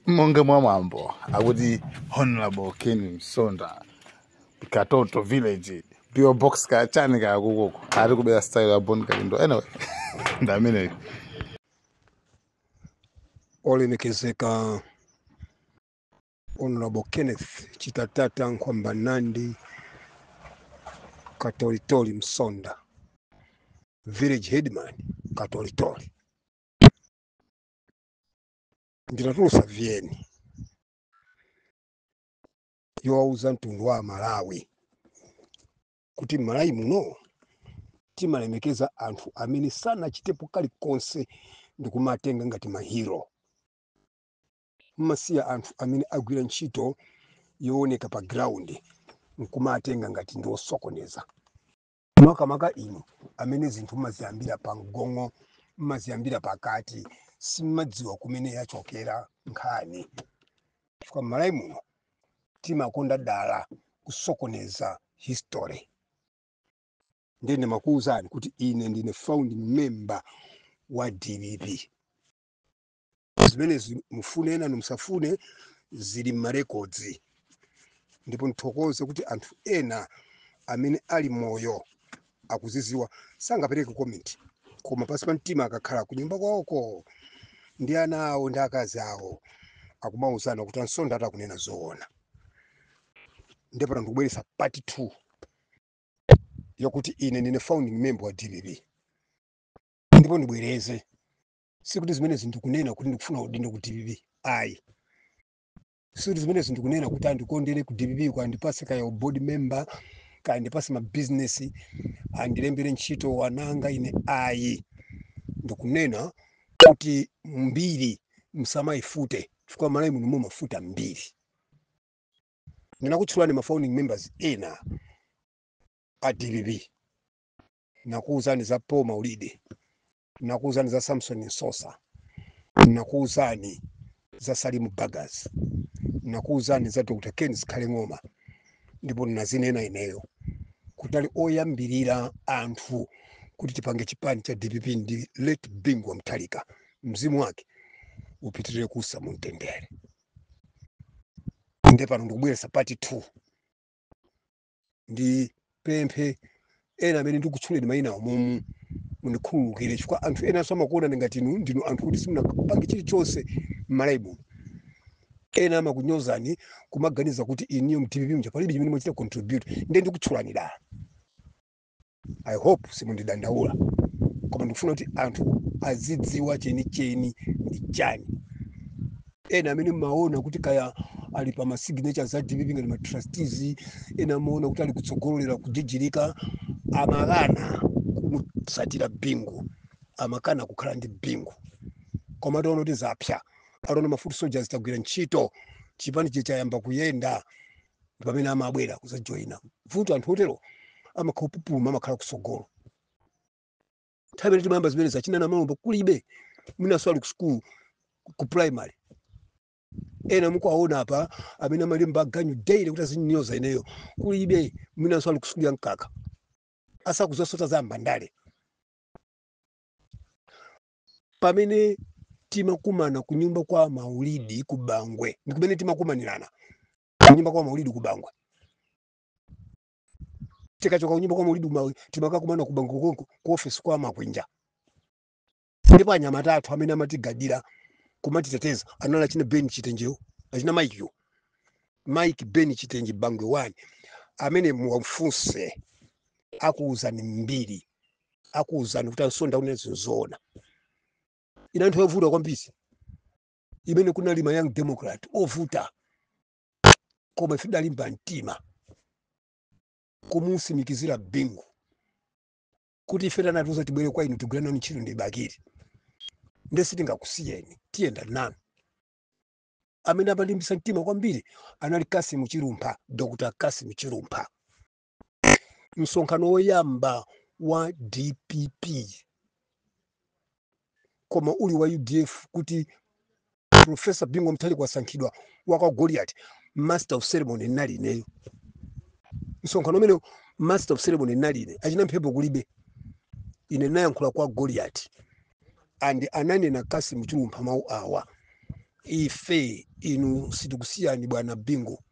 monga mwa mwambo akuti honorable ken msonda katoto village pio box ka chani ka kukuku ari kubera style ya bon kalindo anyway ndamene olemekezeka honorable kenneth chitatata nkhwamba nandi katolitoli msonda village headman katolitoli ndinatulusa vn yowauza mtundu wa amalawi kuti malawi muno timalemekeza anthu amene sanachitepo kalikonse ndikumatenga ngati mahiro mmasiya anthu amene agwira ntchito yooneka pa ground nkumatenga ngati ndi osokoneza makamaka inu amene zinthu mmaziyambira pa mgongo mmaziyambira pakati simmadziwa kumene yachokera nkhani chifukwa mmalawi muno timakonda dala kusokoneza history ndiye ndimakuwuzani kuti ine ndine founding member wa dpp zimenezi mufune enanu musafune zili m'marekodzi ndipo ndithokoze kuti anthu ena amene ali moyo akuziziwa sangapereke komenti koma pansi pa mtima akakhala kunyumba kwawoko ndi ana awo ndi akazi awo akumauzana kuti a msonda atakunena zoona ndipo ndikubweretsa part 2 yokuti ine ndine founding member wa dpp ndipo ndibwereze sikuti zimenezi ndikunena kuti ndikufuna udindo ku dpp ayi sikuti zimenezi ndikunena kuti andikondere ku dpp kaya andipase kaya u board member kaya andipase ma business andilembere ntchito wanganga ine ayi ndikunena kuti mbiri msamayifute chifukwa malawi muno mumafuta mbiri ndinakutchulani ma founding members ena a dpp nakuwuzani za paul maulidi nakuuzani za samson msosa nakuuzani za salimu bagas nakuuzani za dr ken zikhale ng'oma ndipo nazinena ineyo kutali oyambirira anthu kuti tipange chipani cha dpp ndi late bingu wa mutharika mzimu wake upitirire kuusa mumtendere nde pano ndikubweresa part 2 ndipemphe ena amene ndikutchuleni mayina awo momu mundikhululukire chifukwa anthu enanso amakuonani ngati inu ndinu anthu oti simunapange chilichonse m'malawi muno ena amakunyozani kumaganiza kuti inuyo mdpp mja palibe chimene mwachita contribute nde ndikutchulani dala i hope simundidandaula koma ndikufuna kuti anthu azidziwa chenicheni ndi chani ena amene mmaona kuti kaya ali pa ma signatures a dpp ngati ma trustees ena amaona kuti ali kutsogolera kujijirika amakana kumusatira bingu amakana kukhala ndi bingu koma ataona kuti zapsa ataona ma foot soldiers tagwira ntchito chipani chayamba kuyenda ndi pamene amabwera kuzajoyina vuto anthu otero amakhala opupuluma amakhala kusogolo nthawi imene timayamba zimene za achina namalomba kulibe mwinanso ali ku school ku primary ena mukuwaona apa amene amalemba aganyu daily kuti azinyoza ineyo kulibe mwinanso ali ku school ya mkaka asakuzasota za mbandale pamene timakumana kunyumba kwa maulidi ku bangwe ndi kumene timakumanirana kunyumba kwa maulidi ku bangwe tikachoka kunyumba kwa maulidi timakakumana ku bangwe ku ofesi kwa makwinja ndipo anyamata athu amene amatigadira kumatiteteza anali achina ben chitenjewo achina mike ben chitenje bangwe wani amene muwafunse akuwuzani mbiri akuwuzani kuti a msonda akunena zinthu zoona inali nthawi yovuta kwambiri imene kunali ma young democrat ovuta koma ife tidalimba mtima kumusimikizira bingu kuti ife anatiuza tibwere kwa inu tigwira nanu ntchito ndi bakiri nde sitingakusiyeni tiyenda nanu amene amalimbisa mtima kwambiri anali kassim chilumpha dr kassim chilumpha msonkhano woyamba wa dpp koma uli wa udf kuti profesa bingu wa mutharika wasankhidwa wa kwa goliati master of ceremony ndinali ineyo msonkhano umenewo master of ceremony ndinali ine achina mphepo kulibe ine ndinayankhula kwa goliati and ananena kassim chilumpha mawu awa ife inu sitikusiyani bwana bingu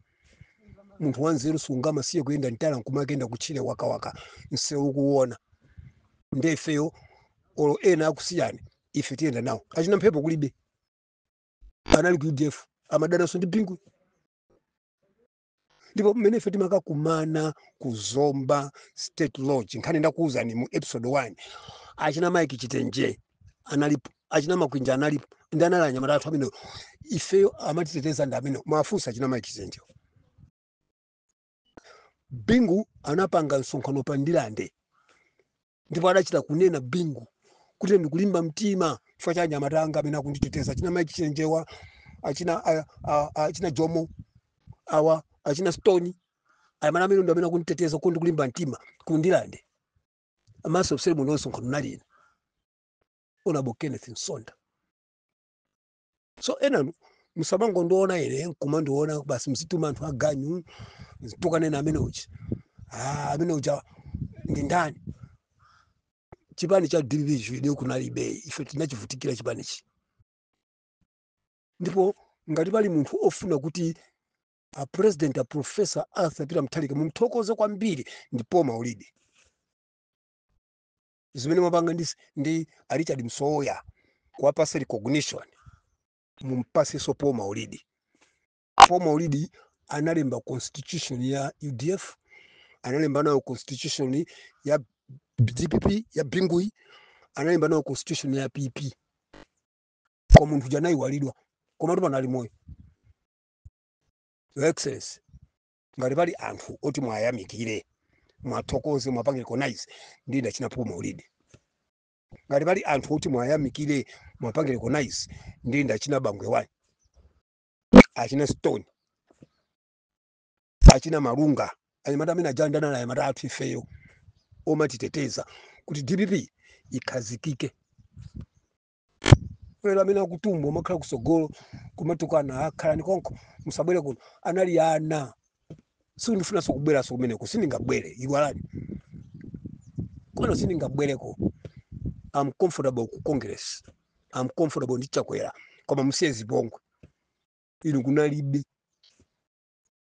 munthu wanzeru sungamasiye kuyenda m'tala nkumakayenda kutchire wakawaka msewu ukuwuona nde ifeyo olo ena akusiyani ife tiyenda nawo achina mphepo kulibe anali ku udf amadananso ndi bingu ndipo mmene ife timakakumana ku zomba state lodge nkhani ndakuwuzani mu episode 1 achina mike chitenje analipo achina makwinja analipo ndi anali anyamata athu amenewo ifeyo amatiteteza ndi amenewo muwafunse achina mike chitenjewo bingu anapanga msonkhano pa ndirande ndipo adachita kunena bingu kuti ndikulimba mtima chifukwa cha anyamata anga amene akunditeteza achina mike chitenje awa achina a- a- a- achina jomo awa achina stone anyamata amene ndi amene akunditeteza kuti ndikulimba mtima ku ndirande master of ceremony msonkhano ndinali ine honourable kenneth msonda so enanu musamangondiona ine nkumandiona basi muzituma anthu aganyu muzikanena amene uja ah, amene uja ndi ndani chipani cha dpp inu kunalibe ife tinachivutikira chipanichi ndipo ngati pali munthu ofuna kuti a president a professor arthur peter mutharika mumthokoze kwambiri ndi paul maulidi zimene mwapanga ndi, ndi a richard msowoya kuwapasa recognition mumpaseso paul maulidi paul maulidi analemba constitution ya udf analemba nayo constitution ya dpp ya bingu analemba nayo constitution ya pp koma munthu uja anayiwalidwa komatu pano ali moyo Your Excellency, ngati pali anthu oti mwayamikire mwathokoze mwapange recognize ndi ndachina Paul Maulidi. Ngati pali anthu oti mwayamikire mwapange recognize ndi ndachina Bangwe wani achina Stoni achina Malunga anyamata amene anadanana na anyamata athu ifeyo omatiteteza kuti DPP ikhazikike lero amene akutumbwa kumakhala kusogolo kumatukana khalani konko musabwere kuno anali ana sindifunanso kubweranso kumeneko sindingabwere iwalani kwano sindingabwereko am comfortable ku congress am comfortable ndi chakwera koma musiye zipongwe inu kunalibe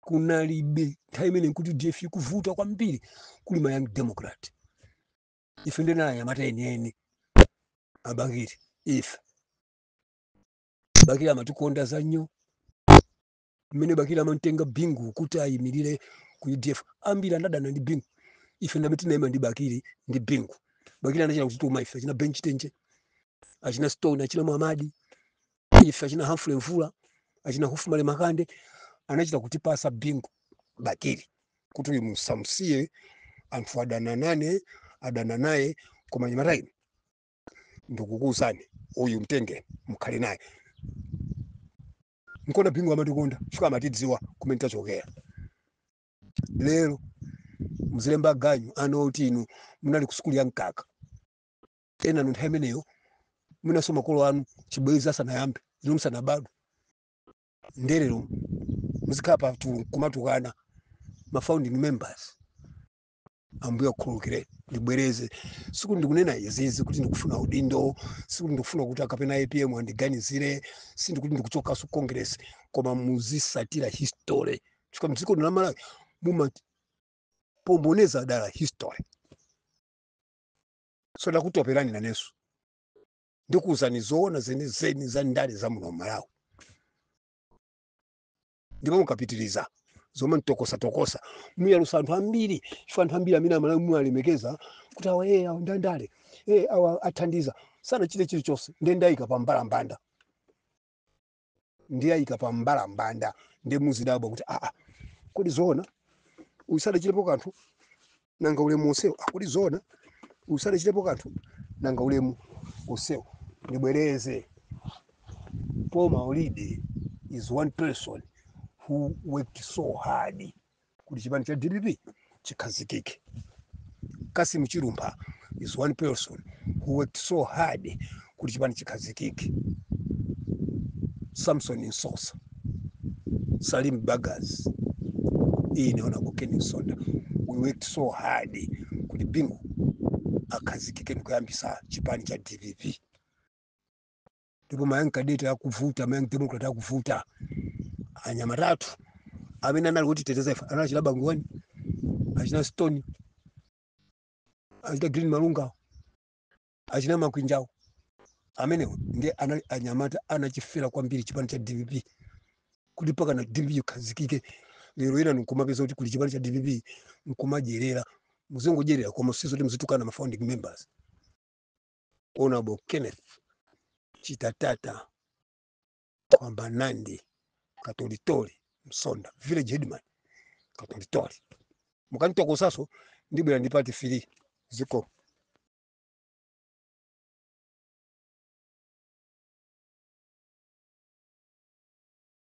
kunalibe nthawi imene nkuti udf ikuvuta kwambiri kuli ma young democrat ife ndi anyamata enieni abakiri ife bakiri amatikonda za nnyo mmene bakiri amamtenga bingu kuti ayimirire ku udf ambiri anadana ndi bingu ife ndamene tinayima ndi bakiri ndi bingu bakiri anachita kutituma ife achina benchi tenje achina stone achina mwamadi ife achina humphrey mvula achina hufumale makande anachita kutipasa bingu bakiri kuti uyu musamsiye anthu adana naye adana naye koma anyamata inu ndikukuuzani uyu mtengeni mukhale naye nkona bingu amatikonda chifukwa amatidziwa kumene tachokera lero mzilemba aganyu ana oti inu munali kusukulu ya mkaka ena nthawi imeneyo mwinanso makolo anu chibwezi asanayambe inu musanabadwe nde lero muzikhala pa tu- kumatukana ma founding members ambuye akhululukire ndibwereze sikuti ndikunena izizi kuti ndikufuna udindo sikuti ndikufuna kuti kapena apm andiganizire sindikuti ndikuchokaso congress koma muzisatira history chifukwa mdziko lino la malawi mumasokoneza dala history so ndakutoperani nanenso ndikuwuzani zoona zenizeni za ndale za muno malawi ndipo mukapitiriza zomanditokosatokosa muyalusa anthu ambiri chifukwa anthu ambiri amene amalawi muwalemekeza kuti awa ee awa ndandale ee awa athandiza sanachite chilichonse nde ndiayika pa mbalambanda ndiye ayika pa mbalambanda ndiye muzidabwa kuti aa kodi zoona uyu sadachitepo kanthu nanga ulemu onsewo a kodi zoona uyu sadachitepo kanthu nanga ulemu onsewo ndibwereze paul maulidi is one person who worked so hard kuti chipani cha dpp chikhazikike cassim chilumpha is one person who worked so hard kuti chipani chikhazikike samson msosa salim bagus ine honorable ken msonda we worked so hard kuti bingu akhazikike ndikuyambisa chipani cha dpp ndipo ma young cadet akuvuta ma young democrat akuvuta anyamata athu amene anali kutiteteza ife anali achina bangwani achina stone achina green malungawo achina makwinjawo amenewo ndiye anali anyamata anachifera kwambiri chipani cha dpp kuti pakana dpp ikhazikike lero inu nkumapeza kuti kuli chipani cha dpp nkumadyerera muzingodyerera koma sizoti muzitukana ma founding members Honorable Kenneth Chitatata kwamba Nandi Katolitori Msonda village headman Katolitori mukanitokosaso ndibwera ndi part three ziko